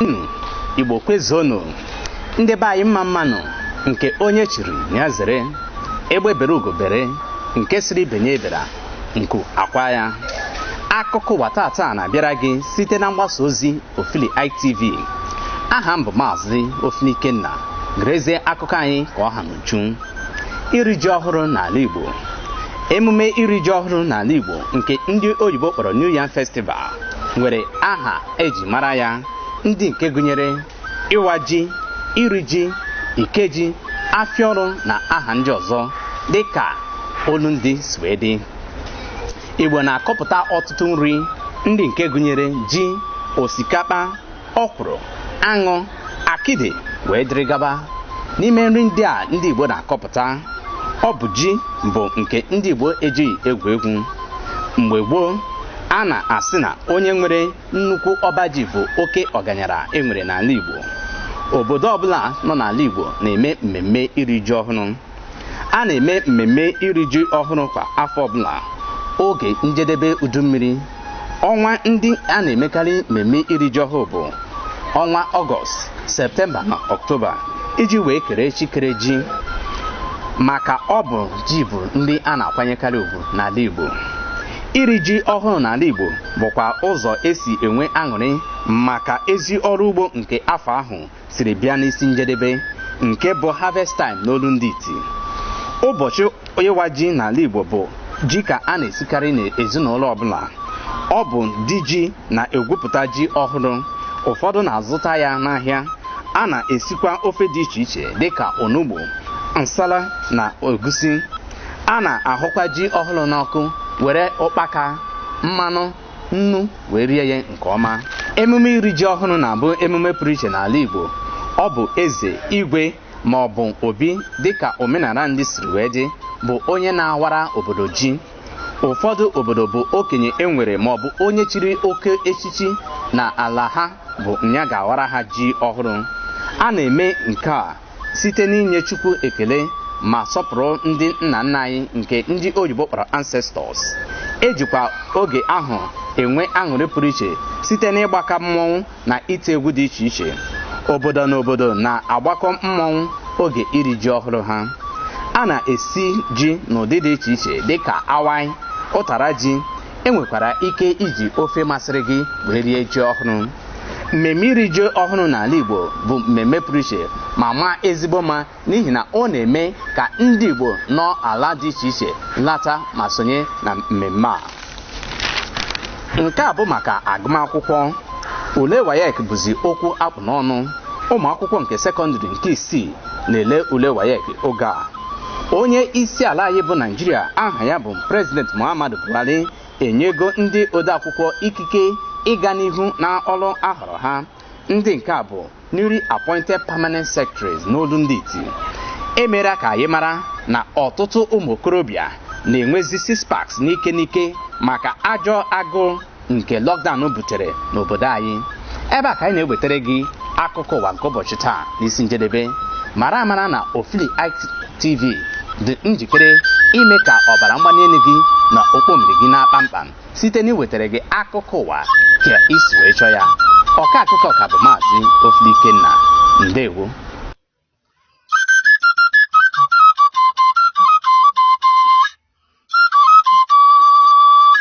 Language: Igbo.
unu igbo kwezuonu ndị be anyị mma mma nụ nke onye chiri nya zere egbe bere ugo bere nke sịrị ibe nya ebera nku akwaa ya akụkọ ụwa tata na-abịara gị site na mgbasa ozi ofili itv aha m bụ maazị ofili ikenna gerezie akụkọ anyị ka ọ ha n'uju iri ji ọhụrụ n'ala Igbo emume iri ji ọhụrụ n'ala Igbo nke ndị oyibo kpọrọ New Yam Festival nwere aha eji mara ya ndị nke gụnyere ịwa ji iri ji ikeji afịa ọrụ na aha ndị ọzọ dị ka olu ndị si wee dị Igbo na-akọpụta ọtụtụ nri ndị nke gụnyere ji osikapa ọkwụrụ aṅụ akịdị wee dịrị gaba n'ime nri ndị a ndị Igbo na-akọpụta ọ bụ ji bụ nke ndị Igbo ejighị egwu egwu mgbe gboo a na-asị na onye nwere nnukwu ọba ji bụ oke ọganyara e nwere n'ala Igbo obodo ọbụla nọ n'ala Igbo na-eme mmemme iri ji ọhụrụ a na-eme mmemme iri ji ọhụrụ kwa afọ ọbụla oge njedebe udu mmiri ọnwa ndị a na-emekarị mmemme iri ji ọhụrụ bụ ọnwa ọgọst septemba na ọktoba iji wee kere chi kere ji maka ọ bụ ji bụ ndị a na-akwanyekarị ugwu n'ala igbo iri ji ọhụrụ n'ala igbo bụkwa ụzọ esi enwe aṅụrị maka ezi ọrụ ugbo nke afọ ahụ siri bịa n'isi njedebe nke bụ harvest time n'olu ndị iti ụbọchị ịwa ji n'ala igbo bụ ji ka a na-esikarị n'ezinụlọ ọbụla ọ bụ di ji na-egwupụta ji ọhụrụ ụfọdụ na-azụta ya n'ahịa a na-esikwa ofe dị iche iche dịka onugbu nsala na egusi a na-ahụkwa ji ọhụrụ n'ọkụ were ụkpaka mmanụ nnu wee rie ya nke ọma emume iri ji ọhụrụ na-abụ emume pụrụ iche n'ala Igbo ọ bụ eze igwe ma ọ bụ obi dịka omenala ndị siri wee dị bụ onye na-awara obodo ji ụfọdụ obodo bụ okenye e nwere ma ọ bụ onye chiri oke echichi na ala ha bụ nya ga-awara ha ji ọhụrụ a na-eme nke a site n'inye Chukwu ekele ma sọpụrụ ndị nna nna anyị nke ndị oyibo kpọrọ ancestors ejikwa oge ahụ enwe aṅụrị pụrụ iche site n'ịgbaka mmọnwụ na ite egwu dị iche iche obodo na obodo na-agbakọ mmọnwụ oge iri ji ọhụrụ ha a na-esi ji n'ụdị dị iche iche dịka awaị ụtara ji e nwekwara ike iji ofe masịrị gị wee rie ji ọhụrụ mmemme iri ji ọhụrụ n'ala Igbo bụ mmemme pụrụ iche ma maa ezigbo mma n'ihi na ọ na-eme ka ndị Igbo nọ ala dị iche iche lata ma sonye na mmemme a nke a bụ maka agụmakwụkwọ ule WAEC bụzi okwu a kpụ n'ọnụ ụmụ akwụkwọ nke sekọndịrị nke isii na-ele ule WAEC oge a onye isi ala anyị bụ Naịjirịa aha ya bụ president muhammadu buhari enyego ndị odeakwụkwọ ikike ịga n'ihu n'ọrụ a họrọ ha ndị nke a bụ newly appointed permanent secretaries n'olu ndị iti e mere ka anyị mara na ọtụtụ ụmụ okorobịa na-enwezi six packs n'ike n'ike maka ajọ agụụ nke lockdown butere n'obodo anyị ebe a ka anyị na-ewetara gị akụkọ ụwa nke ụbọchị taa n'isi njedebe mara amara na ofili itv dị njikere ime ka ọbara mgbali elu gị na okpomiri gị naa kpamkpam site n'iwetara gị akụkọ ụwa ka i si wee chọọ ya ọka akụkọ ka bụ maazị ofili ikenna ndewo